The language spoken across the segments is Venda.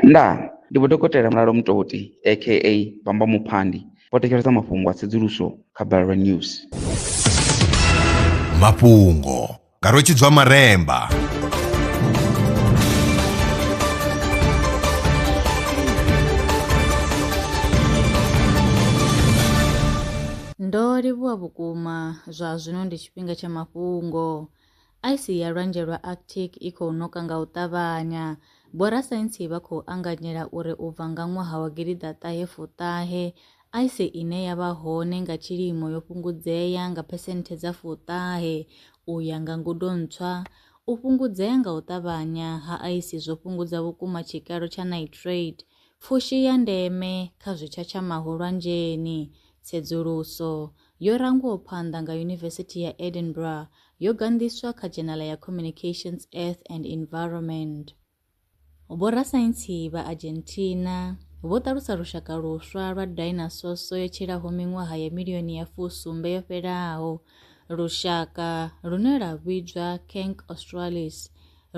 Ndaa! Ndi Vho Dokotela Mulalo Mutoti aka Bamba Muphandi vho thetshelesa mafhungo a tsedzuluso kha Balelwa News. Mafhungo nga Rwetshidzwa Maremba. Ndo livhuwa vhukuma, zwa zwino ndi tshifhinga tsha mafhungo. Aisi ya Lwanzhe lwa Arctic i khou ṋoka nga u ṱavhanya. Vhorasaintsi vha khou anganyela uri u bva nga ṅwaha wa gidiḓa ṱahe fuṱahe, aisi ine ya vha hone nga tshilimo yo fhungudzea nga phesenthe dza fuṱahe. U ya nga ngudo ntswa, u fhungudzea nga u ṱavhanya ha aisi zwo fhungudza vhukuma tshikalo tsha nitrate, pfushi ya ndeme kha zwitshatshamaho lwanzheni. Tsedzuluso Yo rangwaho phanḓa nga Yunivesithi ya Edinburgh, yo ganḓiswa kha dzhenala ya Communications Earth and Environment. Vhorasaintsi vha Argentina vho ṱalusa lushaka luswa lwa dainasoso yo tshilaho miṅwaha ya milioni ya fusumbe yo fhelaho. Lushaka lune lwa vhidzwa Cancr australis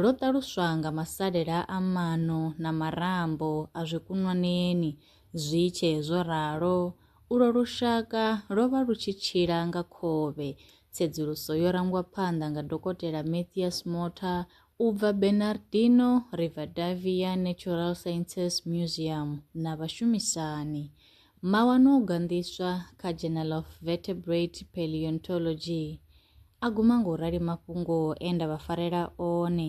lwo ṱaluswa nga masalela a maṋo na marambo a zwikunwaneni zwi tshee zwo ralo, Ulwo lushaka lwo vha lu tshi tshila nga khovhe. Tsedzuluso yo rangwa phanḓa nga Dokotela Mathias Motha u bva Bernardino Rivadavia Natural Sciences Museum na vhashumisani. Mawanwa o ganḓiswa kha Journal of Vertebrate Paleontology a guma nga u rali mafhungo e nda vha farela one.